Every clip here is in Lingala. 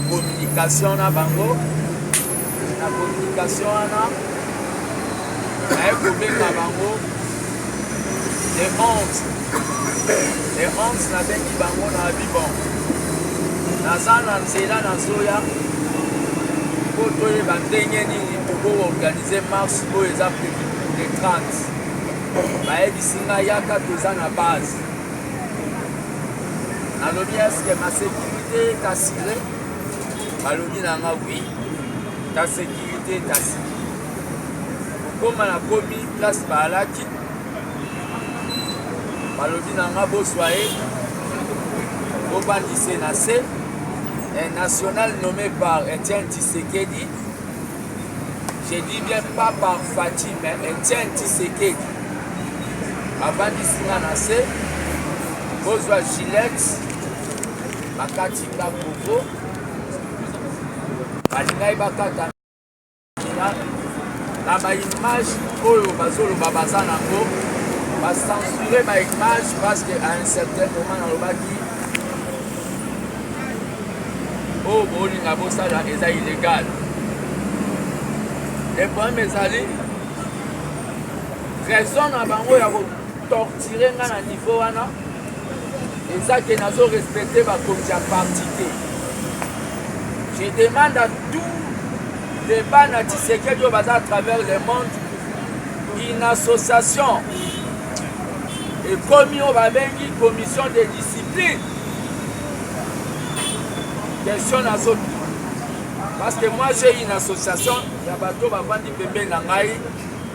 communication na bango na communication wana naye kobenga bango Les honte. Les honte na bengi bango na bibon. Naza na nzela na zoya po toyeba ndenge nini tobo organise marche oyo eza prevu le 30. Bayebisi nga yaka toza na base. Nalobi eske ma sécurité est assurée? Balobi na nga oui. Ta sécurité est assurée. kokoma na komi place baalaki balobi na nga bozwa ye bobandise na se un national nommé par Etienne Tshisekedi je dis bien pas par Fatih mais Etienne Tshisekedi abandisi nga na se bozwa gilete bakati nga kovo balingaki bakata na baimage oyo bazoloba baza nango bacensure baimage parce que à un certain moment nalobaki oyo oh, bolinga bosala eza illégal le problème ezali raison na bango ya kotortire nga na niveau wana eza ke nazo respecte bakonzi ya parti te je demande à tout les bana tisekedi oyo baza à travers le monde une association ekomi oyo babengi commission de discipline question nazotuna parce que moi j'ai une association ya bato bavandi pembeni na ngai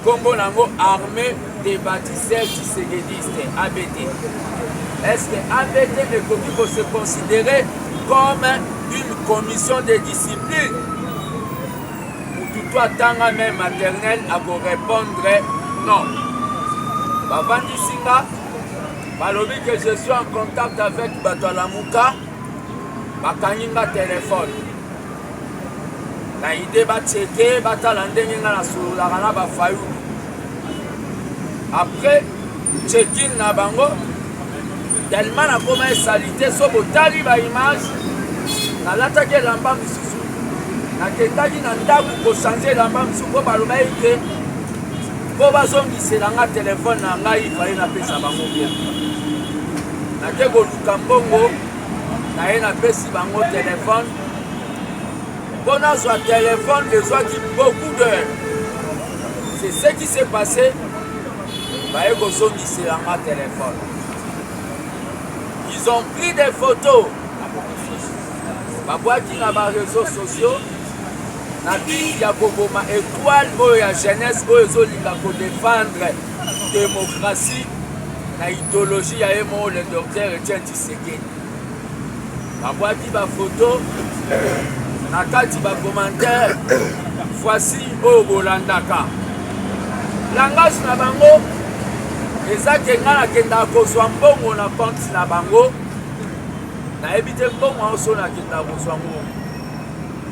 Kombo nango armee des batiseurs tshisekidistes, ABT. Est-ce que ABT ekoki ko se considérer comme une commission de discipline? Mututu atanga même maternelle ako répondre non. Bavandisi nga balobi que je suis en contact avec bato ya Lamuka bakangi nga telefone na idee bacheke batala ndenge nga nasololaka na bafayulu après checking na bango tellement nakoma esalite so botali baimage nalataki elamba mosusu nakendaki na ndako kochange elamba mosusu mpo baloba ete mpo bazongisela nga telefone na ngai faye napesa bango bien nake koluka mbongo naye napesi bango telefone mpo nazwa telefone ezwaki beaucoup d'heure c'est ce qui s'est passé baye kozongisela nga telefone ils ont pris des photos babwaki na bareseau sociaux na biki ya koboma etoile oyo ya jeunesse oyo ezolinga kodefendre demokratie na idéologie ya ye moko le docteur etienne tshisekedi babwaki bafoto na kati bakomantere voici oyo bolandaka langage na bango eza ke ngai nakendaka kozwa mbongo na konte na bango nayebi te mbongo yango so nakendaka kozwa ngo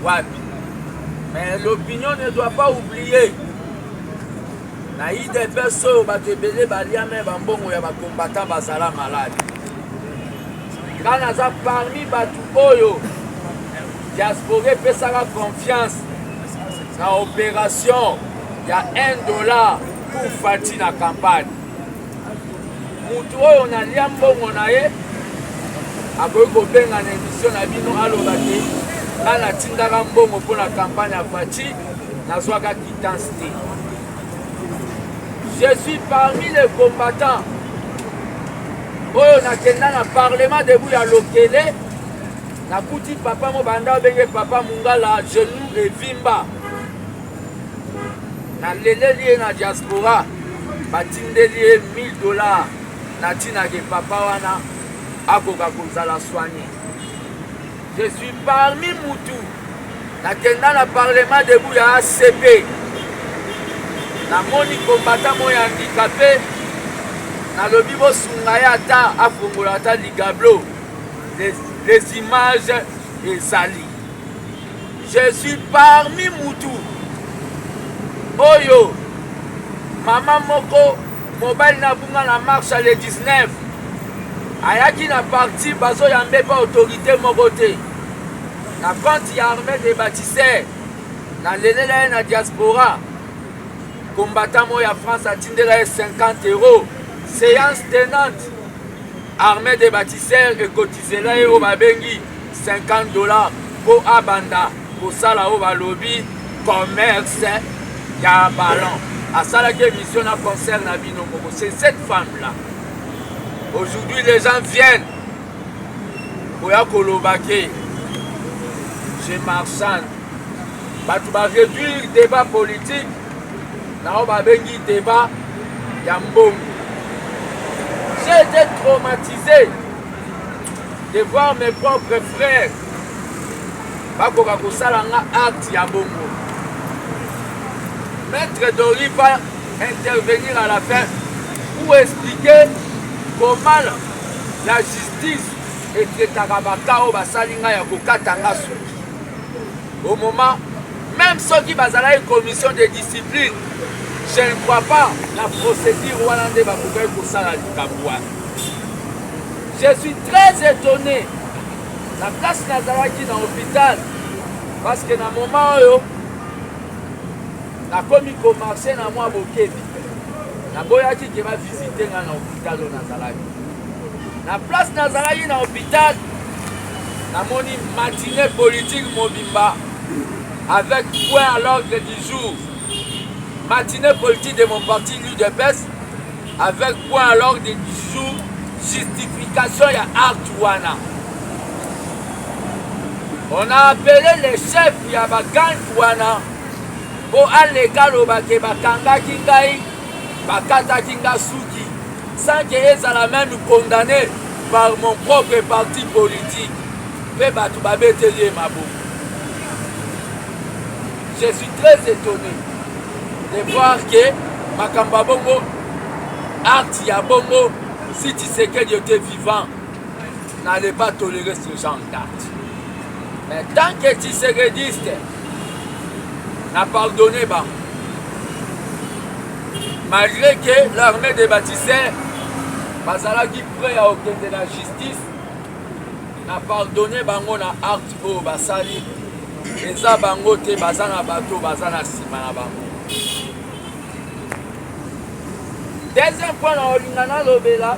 wapi mais l'opinion ne doit pas oublier na idps oyo bato ebele balia me bambongo ya bakombata bazala maladi nga naza parmi bato oyo diaspora epesaka confiance na operation ya 1 dollar pour fati na campagne motu oyo nalia mbongo na ye akoki kobenga na emission na bino aloba te nga natindaka mbongo mpo na campagne ya fati nazwaka kitance te Je suis parmi les combattants oyo nakenda na parlement debout ya lokele nakuti papa mobanda obenge papa mungala genou evimba naleleli ye na diaspora batindeli ye 1000 dollars natinaki papa wana akoka kozala soigne Je suis parmi mutu nakenda na parlement debout ya ACP namoni kombata mo ya handikape nalobi bosunga ye ata afongola ata ligablo les, les images ezali je suis parmi mutu oyo mama moko Mobali na bunga na marche le 19 ayaki na parti bazo ya mbepa autorité moko te na compte ya armée de bâtisseurs na lelela ye na diaspora combattant moko ya France atindela ye 50 euros séance tenante armée de bâtisseurs ekotizela ye oyo babengi 50 dollars po abanda kosala oyo balobi commerce ya ballon asalaki émission na concert na bino moko c'est cette femme là aujourd'hui les gens viennent koya koloba ke je marchande bato ba réduire débat politique na oyo babengi débat ya mbongo j'ai été traumatisé de voir mes propres frères bakoka kosala nga acte ya bongo maître dori va intervenir à la fin pour expliquer comment la justice etraitaka baka oyo basali ngai ya kokata nga suki au moment même soki bazalaki commission de discipline je ne crois pas na procédure wana nde bakokaki kosala likambo wana Je suis très étonné na place nazalaki na hôpital parce que na moment oyo nakomi komarche na mwa bokebi naboyaki ke bavisite ngai na hôpital oyo nazalaki na place nazalaki na hôpital namoni matinée politique mobimba avec point à l'ordre du jour matinée politique de mon parti l'udps Avec quoi à l'ordre du jour justification ya acte wana on a appelé le chef ya bagangi wana mpo aleka aloba ke bakangaki ngai bakataki nga suki sans ke ezala meme condamné par mon propre parti politique mpe bato babeteli ye maboko je suis très étonné de voir que makambo ya bongo acte ya bongo si tshisekedi ote vivant n'allait pas tolérer ce genre d'acte mais tant que tshisekediste na pardonne bango malgré que l'armée de batisseur bazalaki près ya kokende na justice Na pardonne bango na acte oyo basali eza bango te baza na bato baza na nsima na bango. Deuxième point na olinga nalobela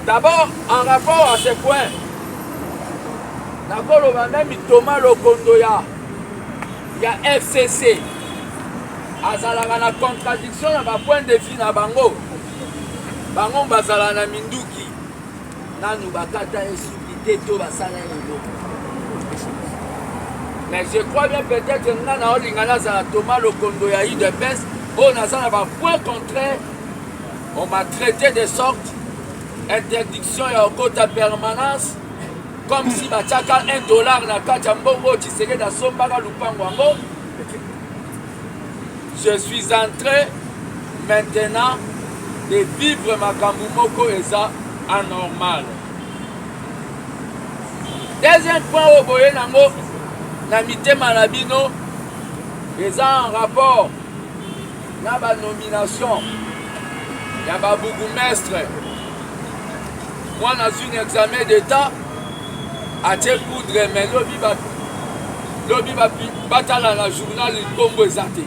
d'abord en rapport à ce point nakoloba meme Thomas Lokondo ya ya FCC azalaka na contradiction na ba point de vue na bango bango bazala na minduki nanu bakata ye suki te to basala ye eloko mais je crois bien peut-être nga na olinga nazala toma lokondo ya udps oyo oh, naza na bapoint contraire on m'a traité de sorte interdiction ya okota permanence comme si batiaka 1 dollar na kati ya mbongo oyo tshisekedi asombaka lupango yango Je suis entre maintenant de vivre makambo moko eza anormal. Deuxième point oyo boye nango na mitema na bino eza en rapport na ba nomination ya ba bourgmestre. Moi nazwi na examen d'etat atie poudre mais lobi ba lobi ba batala na journal kombo eza te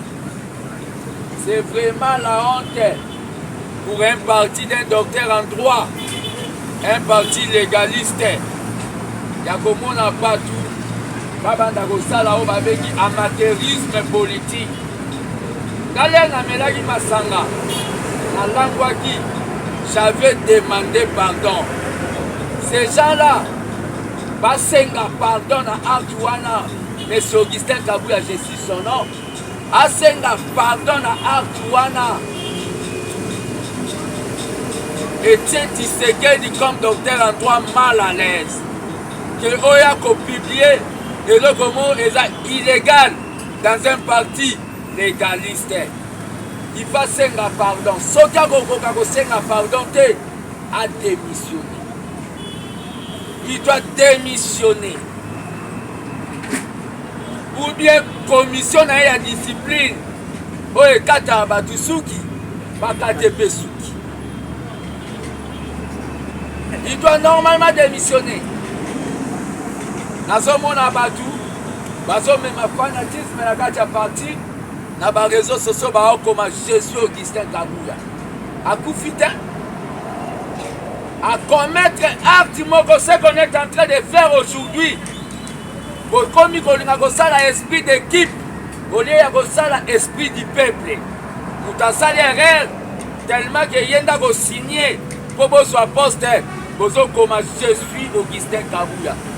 c'est vraiment la honte pour un parti d'un docteur en droit un parti légaliste ya komona bato babanda kosala oyo babengi amateurisme politique Ngai namelaki masanga, nalangwaki, j'avais demande pardon. Ces gens-là basenga pardon na acte wana Monsieur Augustin Kabuya, je suis son nom, asenga pardon na acte wana etie Tshisekedi comme docteur Antoine mal à l'aise que oya kopublie eloko moko eza illégal dans un parti legaliste il va senga pardon soki akokoka kosenga pardon te a démissionné il doit démissionner ou bien commission na ye ya discipline oyo ekataka bato suki bakate mpe suki il doit normalement démissionner nazomona bato bazo mema fanatisme na kati ya parti na ba réseaux sociaux baokoma Jésus Augustin Kabuya akufi te à commettre acte moko ce qu'on est en train de faire aujourd'hui bokomi kolinga kosala esprit d'équipe olie ya kosala esprit du peuple moto asali erreur tellement ke ye nda kosigne mpo bozwa poste bozokoma je suis augustin kabuya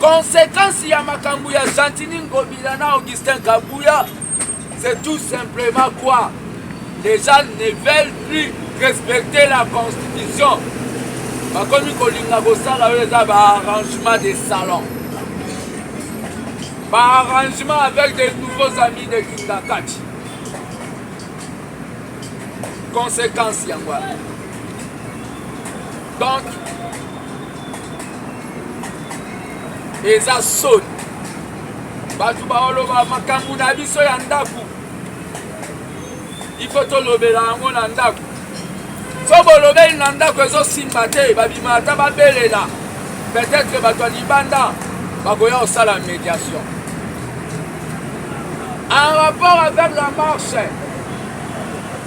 Consequence ya makambo ya Gentini Ngobila na Augustin Kabuya, c'est tout simplement quoi? Les gens ne veulent plus respecter la constitution. Bakomi kolinga kosala oyo eza ba arrangement de salon. Ba arrangement avec des nouveaux amis de Kingakati. Conséquence yango wana. donc eza soni bato baoloba makambo na biso ya ndako ifo tolobela yango na ndako so bolobeli na ndako ezosimba te babima ata babelela peut-être bato ya libanda bakoya kosala médiation en rapport avec la marche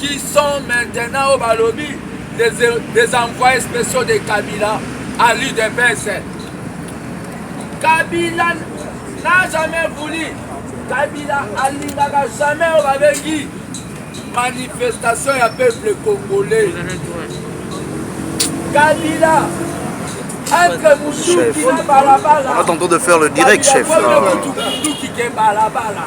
qui sont maintenant oyo balobi des envoyés spéciaux de kabila à l'udps kabila n'a jamais voulu kabila alingaka jamais oyo babengi manifestation ya peuple congolais kabila entre mosuki na balabala on a tenté de faire le direct chef mosuki ke balabala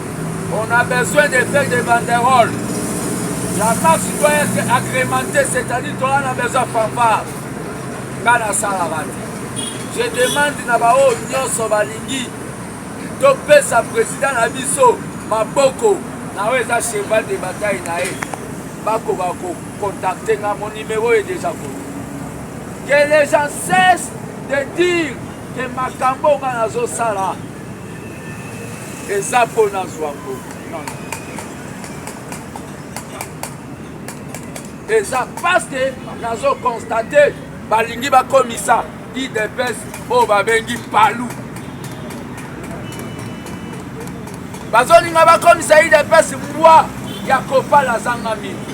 On a besoin de faire des banderoles. La place doit être agrémentée, c'est-à-dire qu'on a besoin de fanfare. Nga na sala bati. Je demande na baoyo nyonso balingi topesa président na biso maboko na oyo eza cheval de bataille na ye bakoka kocontacte nga mon numéro ye déjà ko que les gens cessent de dire que makambo nga nazosala eza mpo nazwa mbongo eza paske nazo constate balingi bakomisa idps oyo babengi palu bazolinga bakomisa idps mbwa ya kopala azanga mingi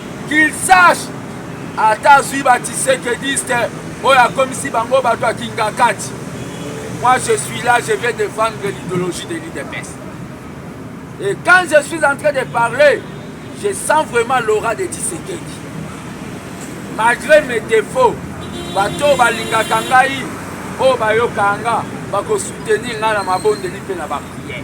Qu'il sache ata azwi ba tshisekediste oyo akomisi bango bato ya kingakati moi je suis là je vais défendre l'idéologie de l'udps et quand je suis en train de parler je sens vraiment l'aura de tshisekedi malgré mes défauts bato oyo balingaka ngai oyo bayokaka nga bakosoutenir ngai na mabondeli mpe na bapriere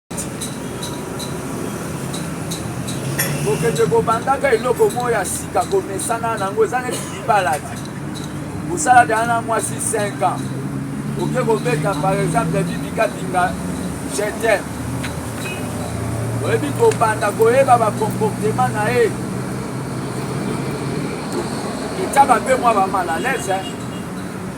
kokende kobandaka eloko moko ya sika komesana nango eza neti libala te kosala deya na mwasi 5 ans oke kobeta par exemple bibikabinga jetem oyebi kobanda koyeba bacomportema na ye etyaka mpe mwa bamalalaise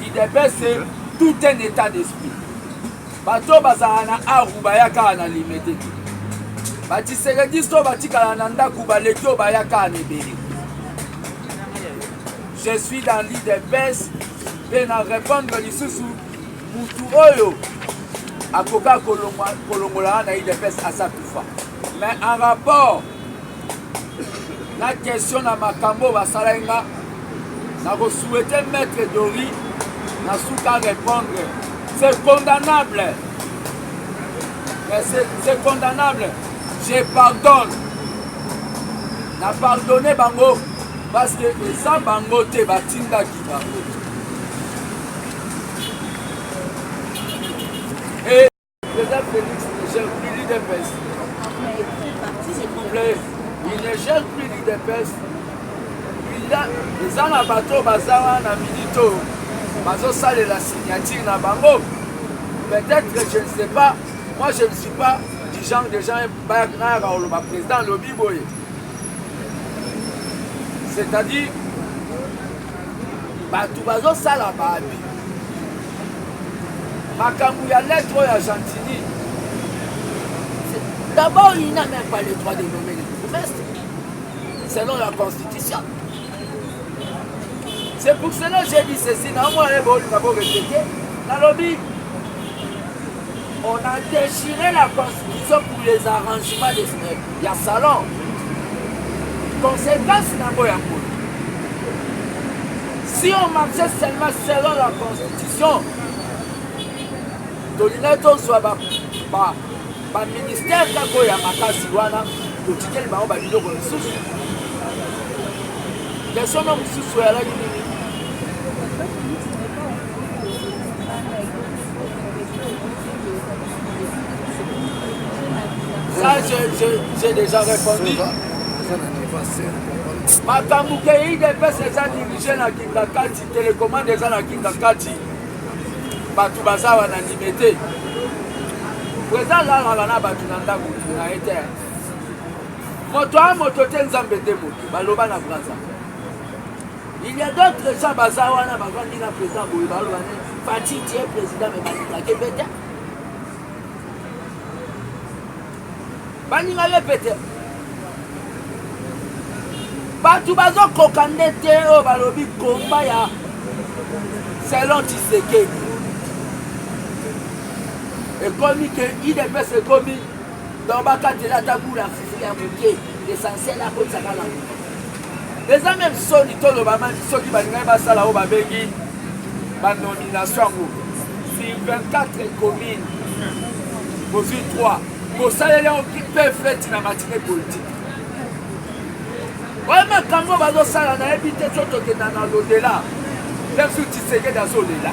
Udps c'est tout un état d'esprit. Bato oyo bazalaka na aru bayakaka na limete te. Batshisekedisto oyo batikala na ndako baleki oyo bayakaka na ebele. Je suis dans l'udps mpe na repondre lisusu mutu oyo akoka kolongolana na udps asa kufa mais en rapport na question na makambo basalaki nga nakosouhaite maître dori na suka répondre c'est condamnable c'est condamnable je pardonne na pardonne bango parce que eza bango te batindaki bango Président Félix ne gère plus l'IDPS. S'il vous plaît, il ne gère plus l'IDPS. eza na bato oyo baza wana minute oyo bazosalela signature na bango peut-être je ne sais pas moi je ne suis pas du genre de gens nayaka oloba président alobi boye c'est-à-dire bato bazosala baabi makambu ya lettre oyo ya gentini d'abord il n'a même pas le droit de nommer le bourgmestre selon la constitution c'est pour cela j'ai dit ceci na omona ye bolinga bo répéter nalobi On a déchiré la constitution pour les arrangements de eh, ya salon. Conséquence nango ya boye. Si on marchait seulement selon la constitution, tolingai tozwa ba, ba, ba ministère kaka oyo ya makasi wana totikeli bango babiloko mosusu yasono mosusu oyalaki nini Ça, j'ai déjà répondu. makambo kei depese eza dirige na kingakati telekomande eza na kingakati bato baza wana ndime te preza alalaka na bato na ndako na ye te moto a moto te nzambe nde moto baloba na braza Il y a d'autres gens baza wana bavandi na président boye baloba ne Fatih tu es président mais balingaki mpe te baninga ye mpe te bato bazokoka nde te oyo balobi komba ya selon tisekedi ekomi ke idps ekomi donc bakatela ata bula fufu ya moke l'essentiel akotisa kaka eza meme soni toloba mami soki balingaki basala oyo babengi banomination yango sur 24 commune bozwi 3 bosaleli yango pefeti na matine politike oyo makambo bazosala nayebi te so tokenda na lodela mpe su tisekedi azolela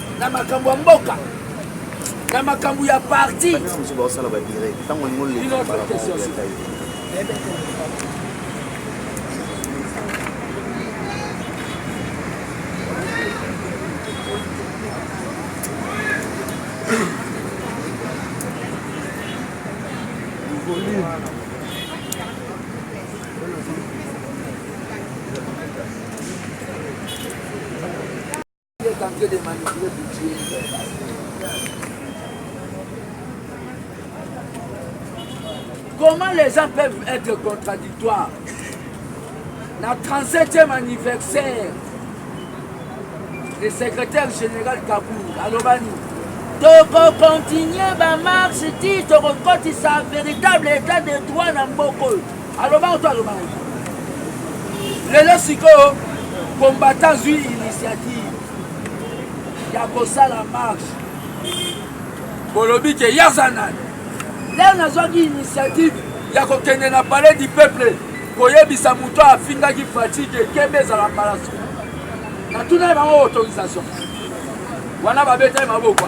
na makambo ya mboka na makambo ya parti Comment les gens peuvent être contradictoires Na 37e anniversaire, le secrétaire général Kaboul, Alobani, toko continuer ba marche ti tokokotisa véritable état de droit na mboko oyo Aloba oto aloba oto. Lelo sikoyo combattant zui initiative ya kosala marche. Bolobi ke yaza nani? Lelo nazwaki initiative ya kokende na palais du peuple koyebisa moto afingaki fatigue ekembe ezala mbala suka natuna ye bango autorisation wana babetaki maboko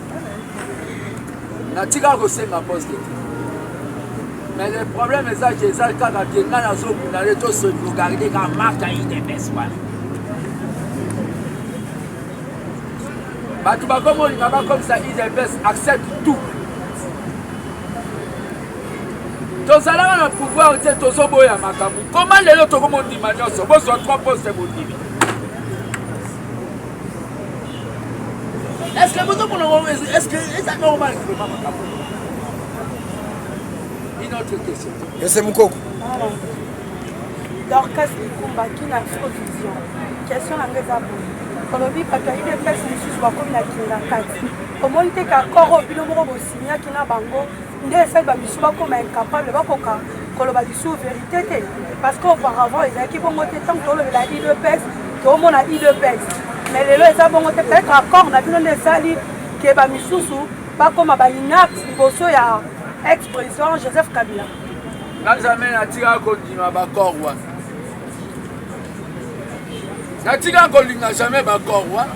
natikaka kosenga poste te mais le problème eza ke eza kaka ke ngai nazobunda le tosoligaride ka marka idps wana bato bakomolinga bakomisa idps accepte tout tozalaka na pouvoir te tozoboya makambo koma lelo tokomondima nyonso bozwa 3 poste bondimi Est-ce que vous comprenez Est-ce que c'est normal Une autre question. Et c'est Moukoko Dorcas Mikumba, qui n'a pas de vision Question à mes abonnés. olobi bato ya udps mosusu bakomi na kinga kati omoni te kakoro bino moko bosinyaki na bango nde esali ba misu bakoma incapable bakoka koloba lisusu verite te parce que auparavant ezalaki bongo te ntango tolobela idps tomona idps mais lelo eza bongo te peut-être accord na bino nde esali ke ba misusu bakoma ba inapte liboso ya ex président joseph kabila nga jamais natikaka kondima bacor wana natikaka kolinga jamais bacor wana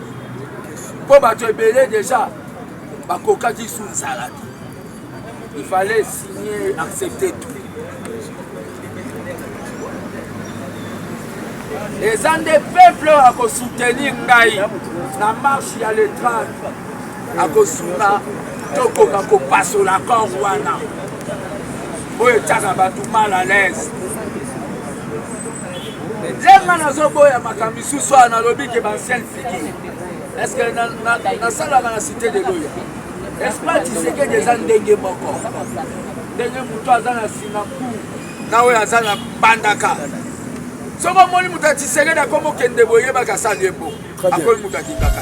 mpo bato ebele deja bakokaki su nzala te il fallait signer accepter tout eza nde peuple oyo akosoutenir ngai na marche ya le 30 akosunga tokoka kopasola kor wana oyo etyaka bato mal à l'aise ndenga nazoboya makambo Ce soir, dans le que ancienne figure. Est-ce que dans ça, dans la cité de l'Oya, est-ce pas tu sais que des gens dengue moko Dengue mouton, azan à Sinapou, nawe azan à Bandaka. soki omoni moto ya tisekedi akomi okende boyebaka asali ebo akomi moto akingaka